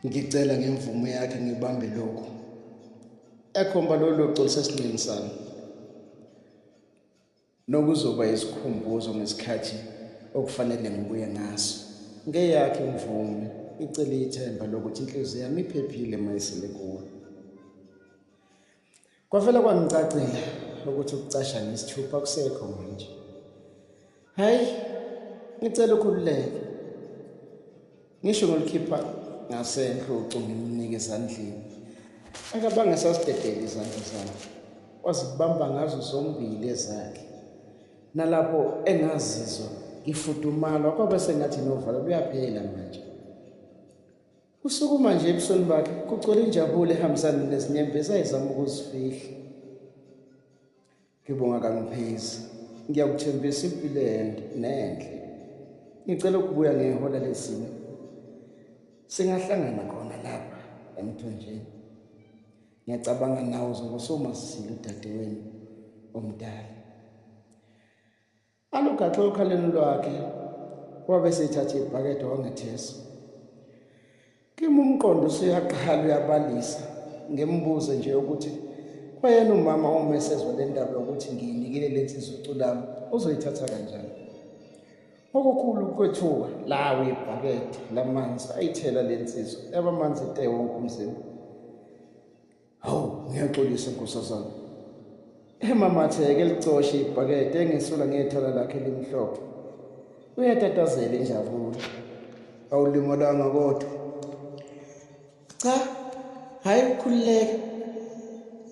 ngicela ngemvumo yakhe ngibambe lokhu ekhomba lolo xolisa esinqeni sami nokuzoba isikhumbuzo ngesikhathi okufanele ngibuye ngaso ngeyakhe imvume icele ithemba lokuthi inhliziyo yami iphephile mayisele kuwe Kwavele kwangicacela ukuthi ukucasha nesithupha kusekho manje. Hayi, ngicela ukhululeke. Ngisho ngolikhipha ngasenhlo ucingo ngimnike ezandleni. Akabanga sasidedele izandla zami. Wazibamba ngazo zombili ezakhe. Nalapho engazizwa ngifudumala kwaba sengathi novalo luyaphela manje. Usukuma nje ebusweni bakhe kugcwele injabulo ehambisana nezinyembezi ayizama ukuzifihla. Ngibonga kangiphezi. Ngiyakuthembisa impilo ende nenhle. Ngicela ukubuya ngehola lezimo. Singahlangana khona lapha emthonjeni. Ngiyacabanga nawe uzobe usomazisile udadewenu omdala. Alugaxe okhaleni lwakhe wabe sethatha ibhakede wangethesa. Kimi umqondo usuyaqhala uyabalisa ngimbuze nje ukuthi kwayena umama uma esezwa le ndaba yokuthi ngiyinikile le nsizwa uculami uzoyithatha kanjani. Okukhulu ukwethuka lawo ibhakede lamanzi ayithela le nsizwa yaba manzi te wonke umzimba. Hawu, ngiyaxolisa nkosazana. Emamatheke licoshe ibhakede engesula ngethala lakhe limhlophe. Uyatatazela injabulo. Awulimalanga kodwa. Cha, hayi ukukhululeka.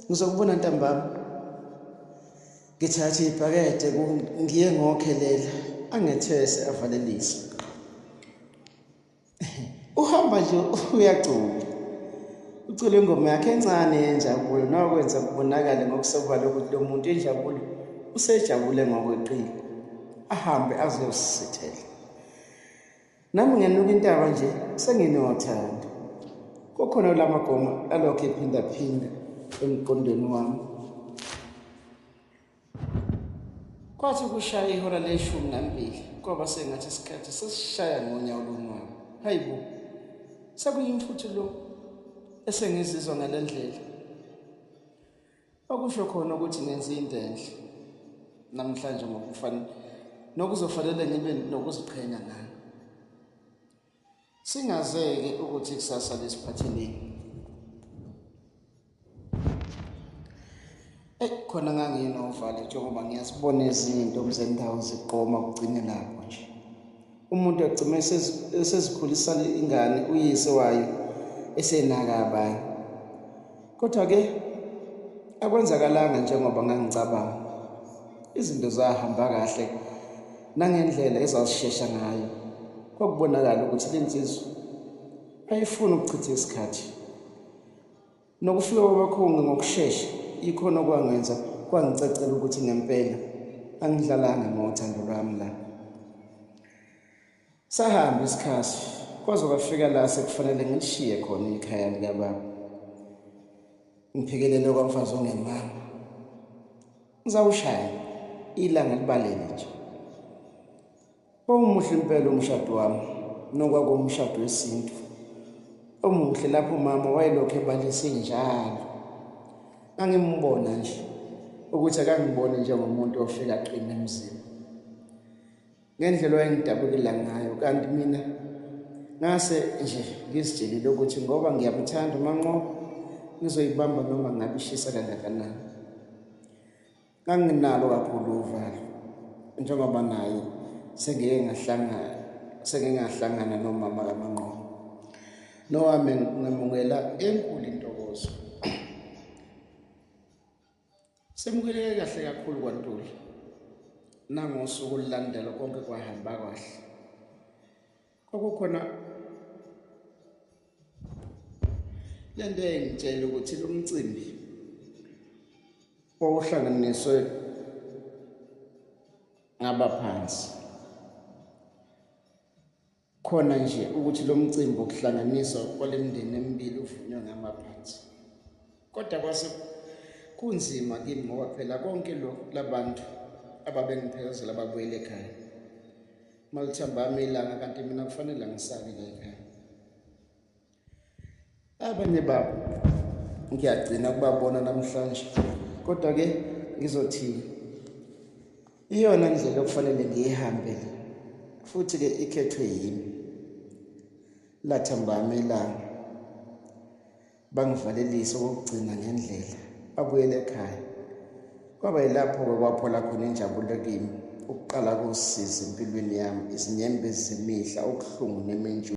Ngizokubona ntambama. Ngithathe ibhakede ngiye ngokhelela angethese avalelise. uhamba nje uyagcula ucula ingoma yakhe encane yenjabulo nokwenza kubonakale ngokusobala ukuthi lo muntu injabulo usejabule ngokweqile ahambe azosithela nami ngenuka intaba nje senginothanda kokhona la magoma alokhu ephindaphinda emqondweni wami Kwathi kushaya ihora leshumi nambili kwaba sengathi isikhathi sesishaya ngonyawo lonwayo. Hayi bo, sekuyimfuthi lo esengizizwa ngale ndlela. Okusho khona ukuthi ngenze into enhle namhlanje ngokufanele nokuzofanele ngibe nokuziqhenya ngalo. Singazeke ukuthi ikusasa lisiphatheleni. Ey khona nganginovalo njengoba ngiyasibona izinto mzendawo ziqoma kugcine lapho nje. Umuntu agcime esezikhulisa ingane uyise wayo esenaka abanye. Kodwa ke akwenzakalanga njengoba ngangicabanga. Izinto zahamba kahle nangendlela ezazishesha ngayo. Kwakubonakala ukuthi le nsizwa ayifuni ukuchitha isikhathi. Nokufika kwabakhongi ngokushesha yikhona okwangenza kwangicacela ukuthi ngempela angidlalanga ngothando lwami la. Sahamba isikhathi kwaze kwafika la sekufanele ngilishiye khona ikhaya likababa ngiphikelele kwamfazi ongemama ngizawushaya ilanga libalele nje Wawumuhle impela umshado wami nokwakuwumshado wesintu. Omuhle lapho umama wayelokhu ebalise njalo. Angimbona nje ukuthi akangiboni njengomuntu ofika aqine emzini. ngendlela owayengidabukela ngayo kanti mina ngase nje ngizitshelile ukuthi ngoba ngiyamuthanda umanqoba ngizoyibamba noma ngabe ishisa kangakanani nganginalo kakhulu uvalo njengoba naye sengike ngahlangana sengike ngahlangana nomama kamanqoba nowami ngamukela enkulu intokozo Semukeleke kahle kakhulu kwaNtuli. Nangosuku olulandela konke kwahamba kahle. Kwakukhona le nto engitshela ukuthi lo mcimbi wawuhlanganiswe ngabaphansi Khona nje ukuthi lo mcimbi wokuhlanganiswa kwale mindeni emibili uvunywe ngamaphansi. Kodwa kwase kunzima kimi ngoba phela konke lokhu labantu ababengiphelekezela babuyele ekhaya. Malithambami ilanga kanti mina kufanele ngisale la ekhaya. abanye babo ngiyagcina kubabona namhlanje kodwa ke ngizothini iyona ndlela okufanele ngiyihambe le futhi ke ikhethwe yimi lathambami ilanga bangivalelise okokugcina ngendlela abuyele ekhaya kwaba yilapho-ke kwaphola khona injabulo kimi ukuqala kosizi empilweni yami izinyembezi zemihla okuhlungu nementshu